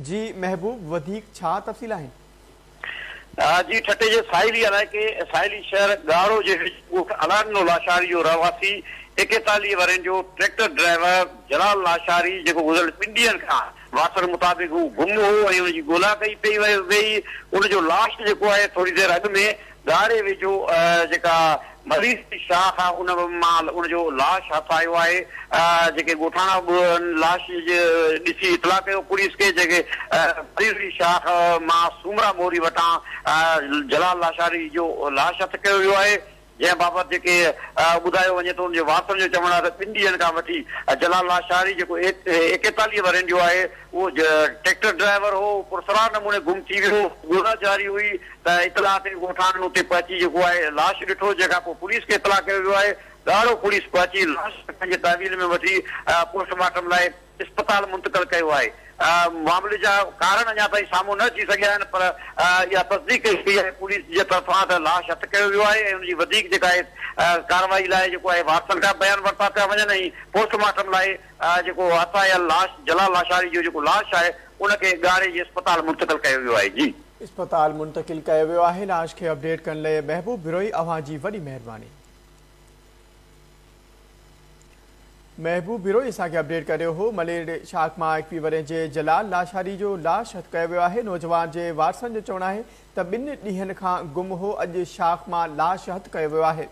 جي محبوب وڌيڪ ڇا تفصيل آهن؟ جي ٺٽي جي ساحلي علائقي ساحلي شهر ڳاڙهو جي ويجهو ڳوٺ الاڏنو لاشاري جو رهواسي ايڪيتاليهه ورهين جو ٽريڪٽر ڊرائيور جلال لاشاري جيڪو گذريل ٻن ڏينهن کان واتر مطابق هو گم هو ۽ ان جي ڳولا ڪئي پئي وئي ان جو لاش جيڪو آهي ٿوري دير اڳ ۾ ڳاڙهي ويجهو جيڪا مريض جي شاخ آهي ان مان ان جو لاش هٿ آيو آهي جيڪي ڳوٺاڻا به ان لاش جي ڏسي اطلاع ڪيو پوليس کي جيڪي مريض جي شاخ مان سومرا موري وٽان جلال لاشاري جو لاش هٿ ڪيو ويو آهي جنهن بابت جيڪي ٻڌايو وڃي ٿو ان جي وارثن جو چوڻ آهي ته ٻن ڏينهن کان وٺي جلال لاشاري جيڪو ايڪيتاليهه ورهين جو آهي اهو ٽريڪٽر ڊرائيور هو پرسرار نموني گم ٿي ويو ڳولا جاري هئي ته اطلاع تي ڳوٺاڻن اتي پهچي جيڪو آهي لاش ڏٺو جنهن کانپوء پوليس کي اطلاع ڪيو ويو آهي ڳاڙهو پوليس پهچي لاش کي پنهنجي تحويل ۾ وٺي پوسٽ مارٽم لاء اسپتال منتقل ڪيو آهي معاملي جا ڪارڻ اڃا تائين سامهون نه اچي سگهيا آهن پر اها تصديق ڪئي وئي آهي پوليس جي طرفان ته لاش هٿ ڪيو ويو آهي ۽ ان جي وڌيڪ جيڪا آهي ڪارروائي لاء جيڪو آهي وارثن کان بيان ورتا پيا وڃن ۽ پوسٽ مارٽم لاء جيڪو هٿ آيل لاش جلال لاشاري جو جيڪو لاش آهي ان کي ڳاڙهي جي اسپتال منتقل ڪيو ويو آهي جي. اسپتال منتقل ڪيو ويو آهي لاش کي اپڊيٽ ڪرڻ لئي محبوب بروهي اوهان جي وڏي مهرباني. محبوب بروهي اسان کي اپڊيٽ ڪري رهيو هو ملير شاخ مان ايڪوي ورهين جي جلال لاشاري جو لاش هٿ ڪيو ويو آهي نوجوان جي وارثن جو چوڻ آهي ته ٻن ڏينهن کان گم هو اڄ شاخ مان لاش هٿ ڪيو ويو آهي.